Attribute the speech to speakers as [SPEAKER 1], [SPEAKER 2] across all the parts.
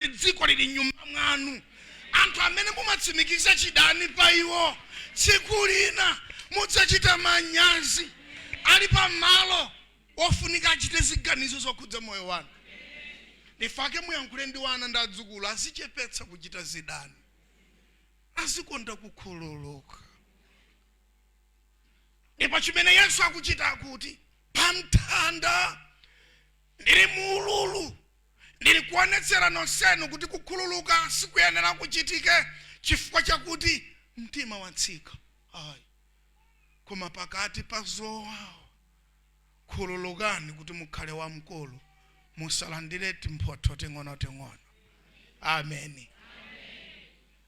[SPEAKER 1] kuti dziko lili m'nyumba mwanu. Anthu amene mumatsimikiza chidani pa iwo, tsiku lina mudzachita manyazi ali pa malo ofunika achite ziganizo zokhudza moyo wanu. Ndifake muyankhule ndi wana ndi adzukulu azichepetsa kuchita zidani, azikonda kukhululuka. Ndipo chimene Yesu akuchita akuti, pamtanda ndili mu ululu. Ndili kuonetsera nonsenu kuti kukhululuka sikuyenera kuchitike chifukwa chakuti mtima watsika ayi, koma pakati pa zowawa khululukani kuti mukhale wamkulu, musalandire timphotho ting'onoting'ono. Amen.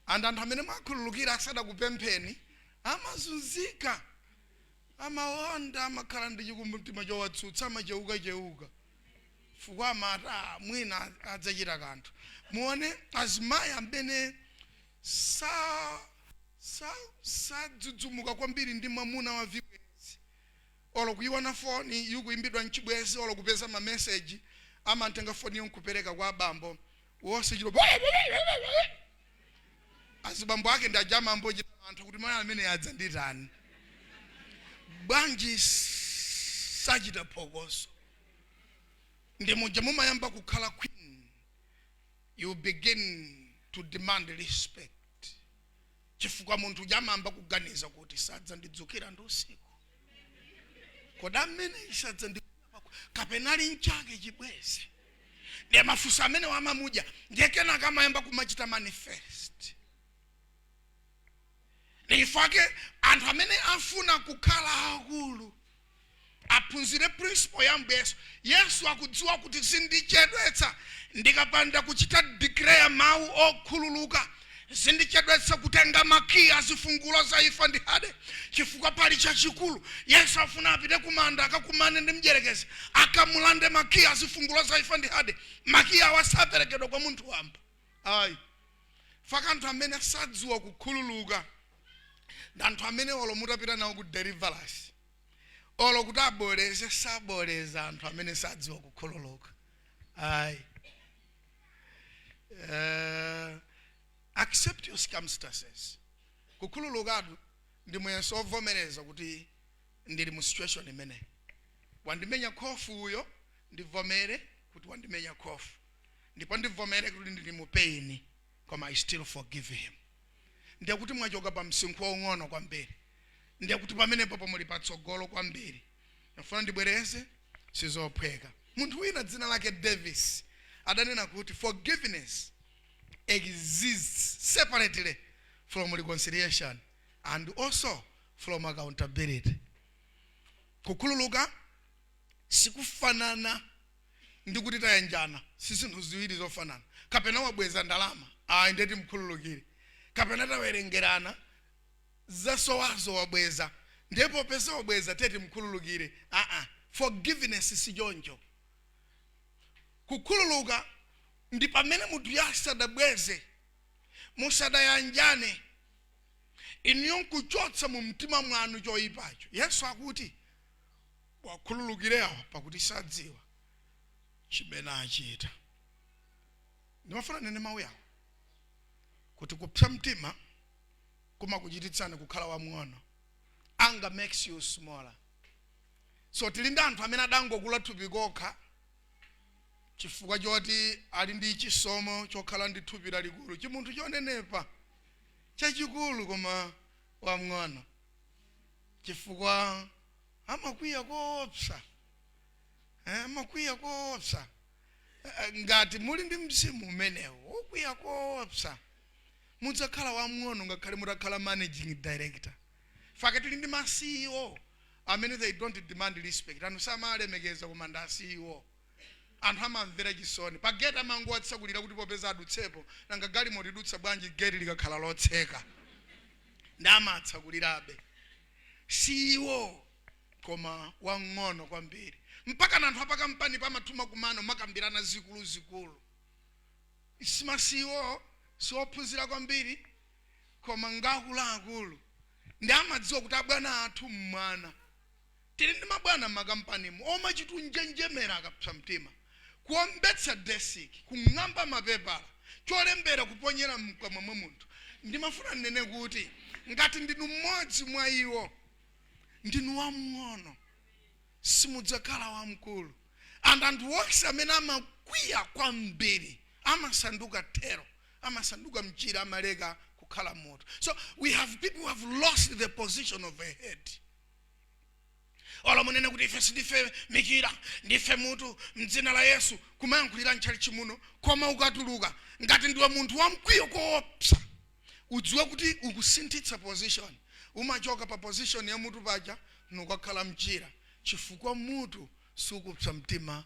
[SPEAKER 1] And anthu amene mwakhululukira asadakupempheni amazunzika, amawonda, amakhala ndi chikumbumtima chowatsutsa, amachewukachewuka. chifukwa amati ah mwina adzachita kanthu muone azimayi amene sa sa sadzudzumuka kwambiri ndi mwamuna wa vibwenzi olo kuyiona foni ikuyimbidwa n'chibwenzi olo kupeza mameseji amangotenga foniyo nkupereka kwa abambo wonse chilo azibambo ake ndi aja amayamba kuchita mantha kuti mayi amene adzanditani bwanji sachita phokoso ndi muja mumayamba kukhala queen you begin to demand respect chifukwa munthu uja amayamba kuganiza kuti sadzandidzukira ndi usiku kodi ameneyi sadzandi kapena ali n'chake chibwezi ndiye mafunso amenewa amamudya ndiye kenaka amayamba kumachita manifest ndiyifake anthu amene afuna kukhala akulu aphunzire principle ya ambuye yesu yesu akudziwa kuti zindichedwetsa ndikapanda kuchita declare mawu okhululuka Zindichedwetsa kutenga makiyi a zifungulo za imfa ndi Hade, chifukwa pali chachikulu. Yesu afuna apite kumanda akakumane ndi mdyerekezi, akamulande makiyi a zifungulo za imfa ndi Hade. Makiyi awa saperekedwa kwa munthu wamba ayi. Fake anthu amene sadziwa kukhululuka ndi anthu amene olo mutapita nawo ku deliverance olo kuti aboleze saboleza anthu amene sadziwa kukhululuka ayi. Eh, accept your circumstances kukhululukatu ndi muyeso wovomereza kuti ndili mu situation imene wandimenya khofu uyo ndivomere kuti wandimenya khofu ndipo ndivomere kuti ndili mu pain koma i still forgive him ndiye kuti mwachoka pa msinkhu waung'ono kwambiri ndiye kuti pamenepopo muli patsogolo kwambiri ndifuna ndibwereze sizophweka munthu wina dzina lake davis adanena kuti forgiveness exists separately from reconciliation and also from accountability kukhululuka sikufanana ndi kuti tayanjana si zinthu ziwiri zofanana kapena wabweza ndalama ayi nde timkhululukire kapena tawerengerana zasowazo wabweza ndiye popeza wabweza tiye timukhululukire aa forgiveness sichoncho kukhululuka ndi pamene munthuyo asadabweze musadayanjane inuyo nkuchotsa mu mtima mwanu choyipacho yesu akuti muwakhululukire awa pakuti sadziwa chimene achita ndimafuna nnene mawu yawo kuti kupsa mtima kumakuchititsani kukhala wamng'ono anger makes you smaller so tili ndi anthu amene adangokula thupi kokha chifukwa choti ali ndi chisomo chokhala ndi thupi lalikulu chimunthu chonenepa chachikulu koma wamng'ono chifukwa amakwiya koopsa Eh, amakwiya koopsa Eh, ngati muli ndi mzimu umenewo wokwiya koopsa Mudzakhala wamng'ono ngakhale mutakhala managing director. Fukwa tili ndi ma ceo amene they don't demand respect. Anthu samawalemekeza koma ndi a ceo. Anthu amawamvera chisoni. Pa gate amangowatsekulira kuti popeza adutsepo. Nanga galimoto idutsa bwanji gate likakhala lotseka? Nde amawatsekulirabe. Ceo koma wamng'ono kwambiri. Mpakana anthu a pakampanipo amatha kumakumana kumakambirana zikuluzikulu. Si ma ceo si ophunzira kwambiri koma ngakuluakulu nde amadziwa kuti abwana athu mmwana. Tili ndi mabwana mmakampanimu omachita kunjenjemera akapsa mtima, kuombetsa desiki, kung'amba mapepala, cholembera kuponyera mkamwa mwa munthu. Ndimafuna nnene kuti ngati ndinu mmodzi mwa iwo, ndinu wamng'ono. simudzakhala wamkulu and anthu onse amene amakwiya kwambiri amasanduka tail amasanduka mchira amaleka kukhala mutu so we have people who have lost the position of a head olo munene kuti ife sindife michira ndife mutu mdzina la yesu kumayankhulira ntchalitchi muno koma ukatuluka ngati ndiwe munthu wamkwiyo koopsa Udziwe kuti ukusinthitsa position. Umachoka pa position ya mutu paja nukakhala mchira chifukwa mutu sukupsa mtima pa.